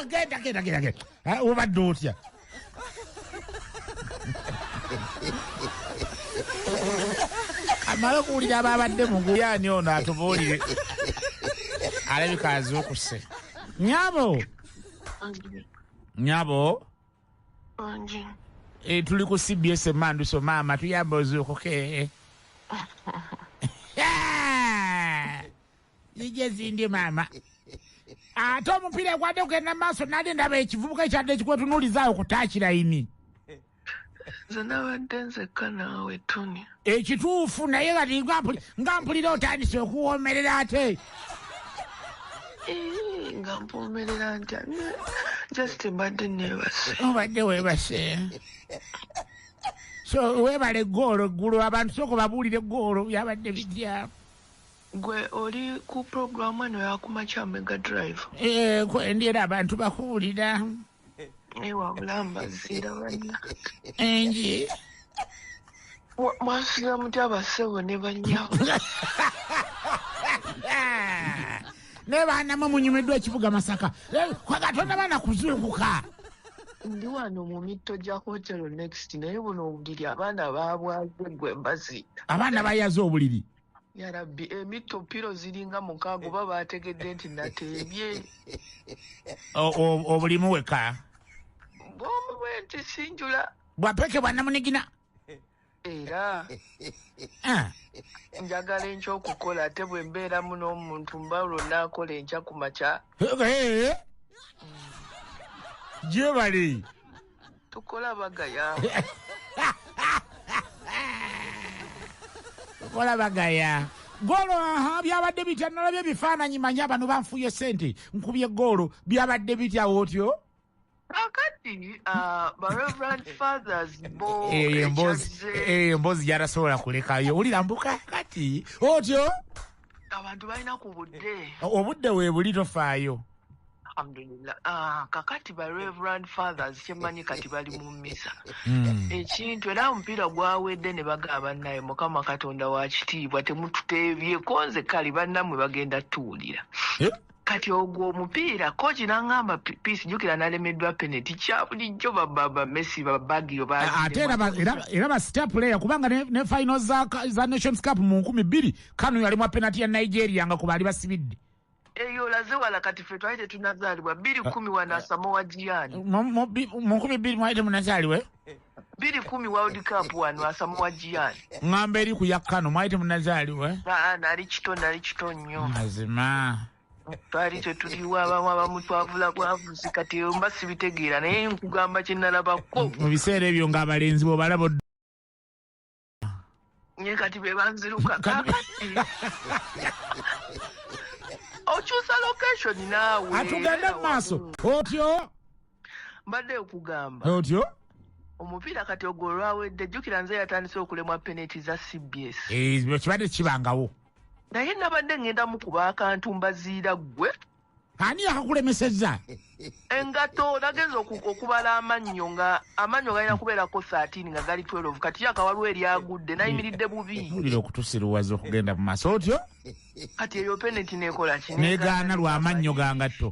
genda genda genda genda ah, obadde otya amala okuwulira ababadde muguyani ono atubuulire alabika azuukuse nyabo nyabo eh, tuli ku cbs emanduso maama tuyamba ozuukuke zije zindi mama ate omupiira egwadde kugenda maaso nali ndaba ekivubuka ekyadde ekikwetunuulizaawo kutaakirayini nze nabadde nzekka naawe tuni ekituufu naye kati nga mpulira otandise okuwoomerera ate eh, nga mpoomerera ntya just mbadde nebase obadde webase so webale goolo eggulu abantu sooka babuulire goolo byabadde bijja Gwe oli ku program eno yakumakya mega drive. Eh, kwendera abantu bakuwulira. Ewa bulamba zira banya. Enji. Mwasiga mutya basebo ne banya. Ne bana mwe munyumidwa ekibuga masaka. Eh, kwa gatonda bana kuzukuka. Ndi wano mu mitto gya hotero next naye buno obuliri abaana babwaze gwe mbazi. Abaana bayaze obuliri. yarabbi emitto piro ziringa mukaaga oba baategedde nti nateebye obulimu weka bwomu bwe nti sinjula bwapeke bwanamunigina era ah. njagala enkya okukola ate bwe mbeeramu n'omuntu mba olwo naakola enkya ku makya gyebali Tukola bagaya. Tukola bagaya. Golo aha byabadde bitya nalabye ebifaananyi manyi abantu banfuye sente nkubye goolo byabadde bitya otyo kakati uh, bareverend fathers bo eyo emboozi yarasobola kulekayo wulira mbuka kati otyo abantu balina ku budde obudde weebuli tofaayo alhamdulillah ah, kakati ba reverend fathers kyemanyi kati bali mu misa hmm. ekintu era omupiira gwawedde ne bagamba naye mukama katonda wa kitiibwa temututeebyeko nze kale bannamwe bagenda tuwulira eh? kati ogwo omupiira koci nangamba peace jukira nalemeddwa peneti kyabulijjo bababa messi babagio ate era ba star player kubanga ne final za nations cup mu nkumi bbiri kano yalimu penati ya nigeria nga kubaali basibidde eyo olaze wala kati fe twali tetunazaalibwa bbiri kumi wanasamowa jiani mu nkumi bbiri mwali temunazaalibwa eh? biri kumi world cup wano asamuwa jiani ngamba eri kuyakkano mwali temunazaaliwa eh? ah, nali kito nali kito nnyo mazima twali tetuliwo abamu abamu twavula bwavuzi kati mba sibitegeera naye nkugamba kyenalabako mu biseera ebyo ng'abalenzi bwobalaba nye kati be banziruka kakati okyusa location naawe atugende mu maaso otyo mbadde okugamba otyo omupiira kati ogwo olwawedde jjukira nze yatandise okulemwa peneti za cbs Eh, kibadde kibangawo naye nabadde ŋŋenda mukuba akantu mbaziira ggwe ani yakakulemeseza engato nagenza okubala amannyo nga amannyo galina kubeerako 13 nga gali 12 kati yaka waliwo eryagudde nayimiridde bubiulira okutusiruwaza okugenda mu maaso otyo kati eyo peneti nekola ki negaana lwamannyo ga ngatto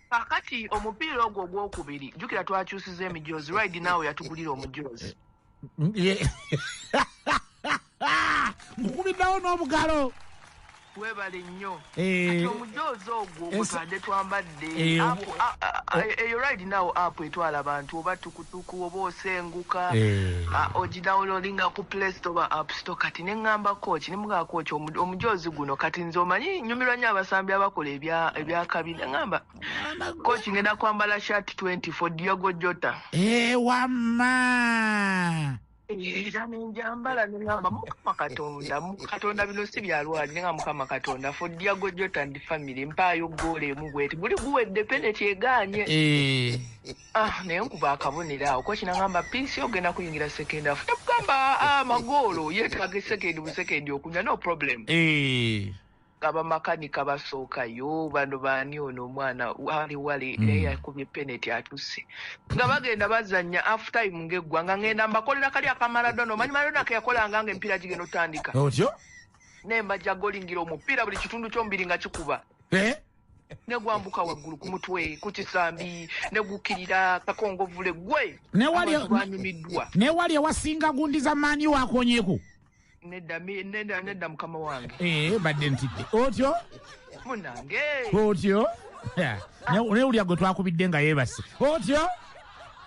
kakati omupiira ogwo ogwokubiri jukira twakyusiza emijoozi ride naawe yatugulira omujoozi nkukubiddawo n'obugalo webale nnyo eh. kati omujoozi ogwo ogutadde twambadde eh, eh, eyo ride now app etwala abantu oba tukutuku oba osenguka ah, ogidawunloadinga ku play store oba app store kati ne ŋŋamba kooki ne mugamba kooki omujoozi guno kati nze omanyi nyumirwa nnyo abasambi abakola ebyakabi ne ŋŋamba Coach ngenda kwambala shirt 20 for Diogo Jota. Eh wamma. Era nenjambala nengamba mukama katonda katonda bino si byalwali nengamba mukama katonda for Diogo Jota and family mpaayo ggoolo emu bweti buli guwedde peneti egaanye eh. ah naye nkuba akabonero awo koki nangamba piisi ogenda kuyingira sekendi afu nekugamba ah, amagoolo yetaaga esekendi busekendi okunya no problem eh. abamakanika basooka yo bano baani ono omwana wali wali mm. naye yakubye peneti atuse nga bagenda bazanya half time ngaeggwanga ngenda mbakolera kali akamaradona omanyi maradona keyakolanga nga empiira gigenda otandika otyo naye mbajja golingira omupiira buli kitundu kyomubiri nga kikuba eh? negwambuka waggulu ku mutwe ku kisambi negukirira kakongovule gwe newali ewasinga gundi za maani wakonyeku nedda mi- nedda nedda mukama wange Eh, badde ntidde otyo munange otyo Yeah. Ne- naye ulya gwe twakubidde nga yeebase otyo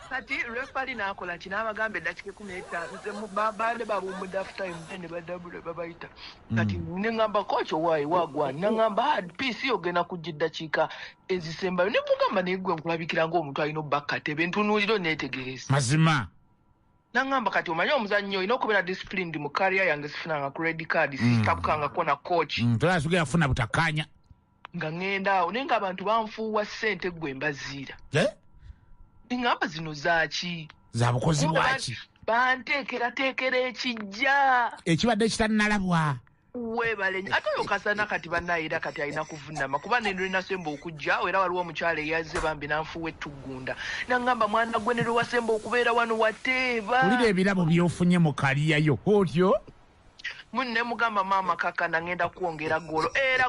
kati refali n'akola ki n'abagamba eddakiika ekumi n'etaano nze mu- ba- baade bawumudde after time then ne badabula babayita kati Mm. ne ŋŋamba koki owaayi waagwa naŋŋamba hard peace yo ogenda kujja eddakiika ezisembayo ne mugamba naye gwe nkulabikira ng'omuntu alina obba katebe ntunuulira oneetegereza mazima nangamba kati omanyi omuzannyo olina okubeera disciplined mu kariya yange sifunanga ku red card mm. sitabukangako na coach mm, tolaba sigenda kufuna butakkaanya nga ŋŋenda awo naye ngaabantu banfuuwa ssente ggwe mbaziira eh? ngamba zino zaaki zabukozi bwaki banteekerateekera ekijja ekibadde kitannalabwa webale ate oyo kasana kati banaye era kati alina kuvunama kuba nenolwenasemba okujja era waliwo omukyalo eyaze bambi nanfuwa ettuggunda nangamba mwana gwe nelwewasemba okubeera wano wateeba ulira ebirabo byofunye mu kaliyayo otyo munne mugamba maama kakana ngenda kwongera golo era